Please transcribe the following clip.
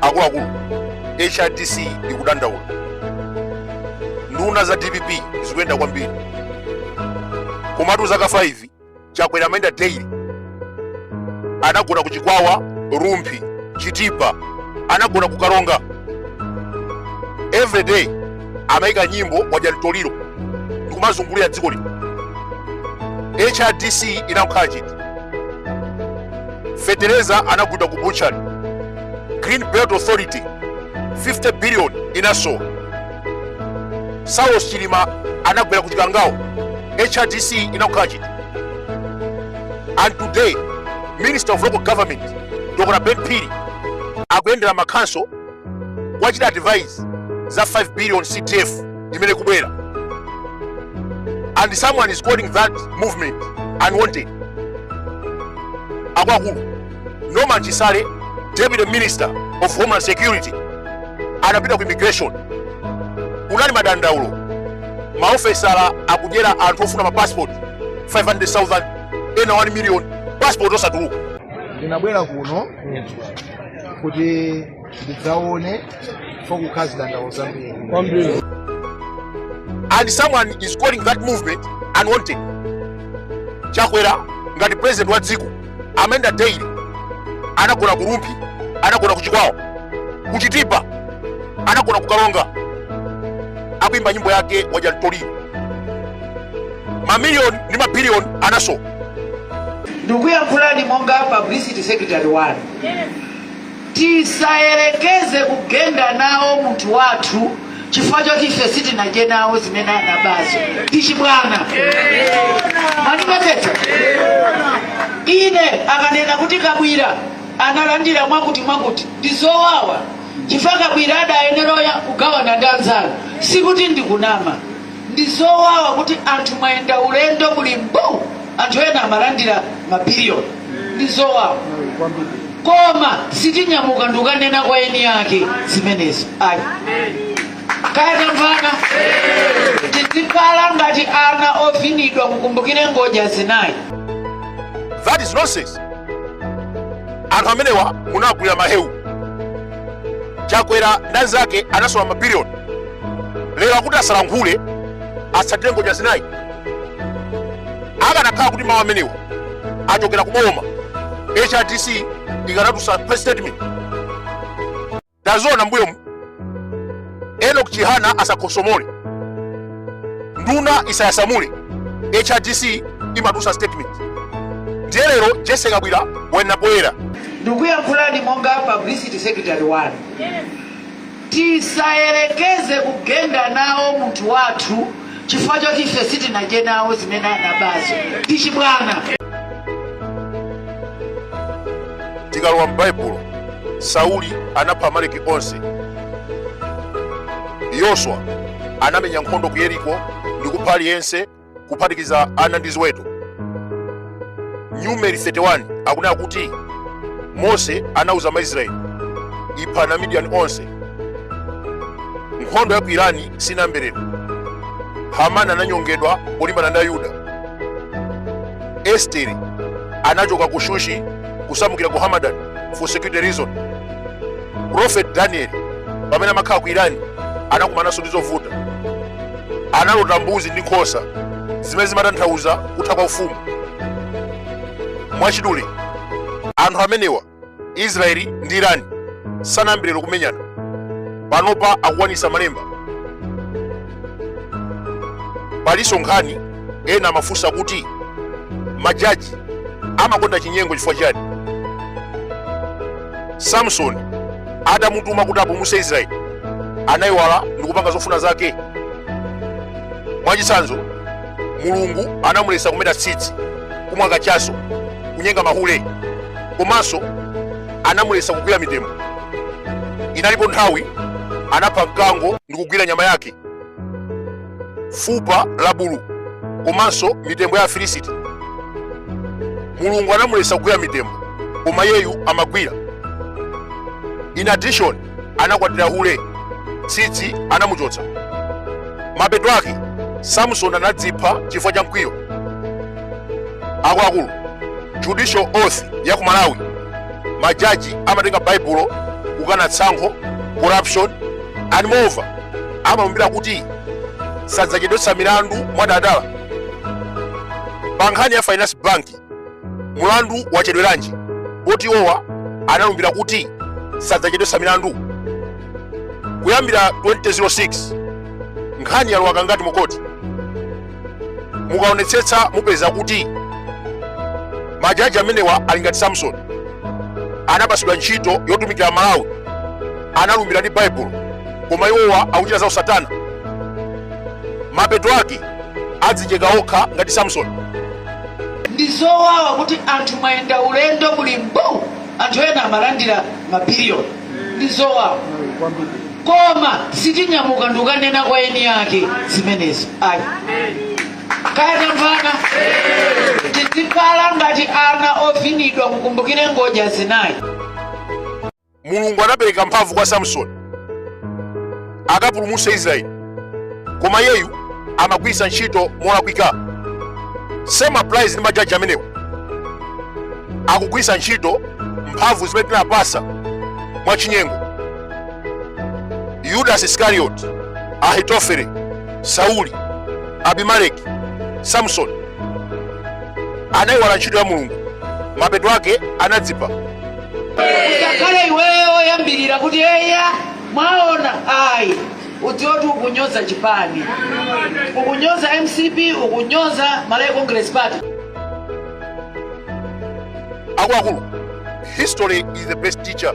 akuluakulu hrdc ikudandaula nduna za dpp zikuyenda kwambiri komatu zaka 5 chakwera amayenda daily anagona ku chikwawa rumphi chitipa anagona ku karonga everyday amaika nyimbo wadya mtoliro ndikumazungulira dziko lino hrdc inangokhala chete fetereza anagulidwa ku butchery green belt authority 50 billion inasowa saulos chilima anagwera ku chikangawo hrdc inangokhala chete and today minister of local government dr ben phiri akuyendera macouncil kuwachita advise za 5 billion cdf imene ikubwera and someone is calling that movement unwanted akuluakulu norman chisale deputy minister of homeland security anapita ku immigration kunali madandaulo maofesala akudyera anthu ofuna mapassport 500000 ena 1 million passport osatuluka ndinabwera kuno kuti ndidzaone fokukhala zidandaulo zambiri and someone is calling that movement unwanted chakwera ngati president wa dziko amayenda daily anagona ku rumphi anagona ku chikwawa ku chitipa anagona ku karonga akuimba nyimbo yake wadya mtoliro mamiliyoni ndi mabiliyoni anasowa ndikuyankhulani monga publicity secretary wanu tisayerekeze kugenda nawo munthu wathu chifukwa choti ife sitinadye nawo zimene anabazo ndi chibwana mwandimvetsetsa ine akanena kuti kabwira analandira mwakuti mwakuti ndi zowawa chifukwa kabwira adayenera kugawana ndi anzanu sikuti ndikunama ndi zowawa kuti anthu mwayenda ulendo muli mbuu anthu ena amalandira mabiliyoni ndi zowawa koma sitinyamuka ndikukanena kwa eni ake zimenezo ayi kaya tamvana tizikhala ngati ana ovinidwa mukumbukire ngodya zinayi That is nonsense. Anthu amenewa munagwira mahewu chakwera ndi anzake anasowa mabiliyoni lero akuti asalankhule atsatire ngodya zinayi akanakhala kuti mawu amenewa achokera ku boma hrdc ikanatulutsa press statement ndaziona mbuyomu enok chihana asakhosomole nduna isayasamule hrdc imatusa statement ndiye lero jese kabwira wena poyera ndikuyankhulani monga publicity secretary wanu tisayerekeze kugenda nawo munthu wathu chifukwa choti ife sitinadye nawo zimene anabazo ndi chibwana tikalowa m'baibulo sauli anapha amaleki onse yoswa anamenya nkhondo ku yeriko ndi kupha aliyense kuphatikiza ana ndi ziweto numeri 31 akunena kuti mose anauza maisraeli iphani amidiyani onse nkhondo ya ku irani sinayambe lero hamani ananyongedwa polimbana ndi ayuda estere anachoka ku shushi kusamukira ku hamadani for security reason prophet daniel pamene amakhala ku irani anakumananso ndi zovuta analota mbuzi ndi nkhosa zimene zimatanthauza kutha kwa ufumu mwachidule anthu amenewa israeli ndi irani sanayambe lero kumenyana panopa akukwanisa malemba palinso nkhani ena amafunsa kuti majaji amakonda chinyengo chifukwa chani samsoni atamutuma kuti apulumuse israeli anayiwala ndikupanga zofuna zake mwachitsanzo mulungu anamulesa kumeta tsitsi kumwa kachaso kunyenga mahule komanso anamulesa kugwira mitembo inalipo nthawi anapha mkango ndikugwira nyama yake fupa la bulu komanso mitembo ya afilisiti mulungu anamuletsa kugwira mitembo koma iyeyu amagwira in addition anakwatira hule tsitsi anamuchotsa mapeto ake samson anadzipha chifukwa cha mkwiyo akuluakulu judicial oath ya ku malawi majaji amatenga baibulo kukana tsankho corruption and moreover amalumbira kuti sadzachedwetsa milandu mwadala pa nkhani ya finance bank mulandu wachedweranji poti iwowa analumbira kuti sadzachedwetsa milandu kuyambira 2006 nkhani yalowa kangati mukoti mukaonetsetsa mupeza kuti majaji amenewa ali ngati samson anapasidwa ntchito yotumikira malawi analumbira ndi baibulo koma iwowa akuchita zausatana mapeto ake adzicheka okha ngati samson ndi zowawa kuti anthu mwayenda ulendo muli mbu anthu ena amalandira mabiliyoni ndi zowawa koma sitinyamuka ndikukanena kwa eni ake zimenezo ayi kaya tamvana tizikhala ngati ana ovinidwa mukumbukire ngodya zinayi mulungu anapereka mphamvu kwa samsoni akapulumutse israeli koma iyeyu amagwiritsa ntchito molakwika same applies ndi majaji amenewa akugwiritsa ntchito mphamvu zimene tinawapatsa mwachinyengo yudas iskariot ahitofele sauli abimeleki samson anayiwala ntchito ya mulungu mapeto ake anadzipha usakhale iweyo woyambirira kuti eya Mwaona, ayi udziwoti ukunyoza chipani, ukunyoza mcp, ukunyoza Malawi Congress Party. Akuluakulu, history is the best teacher.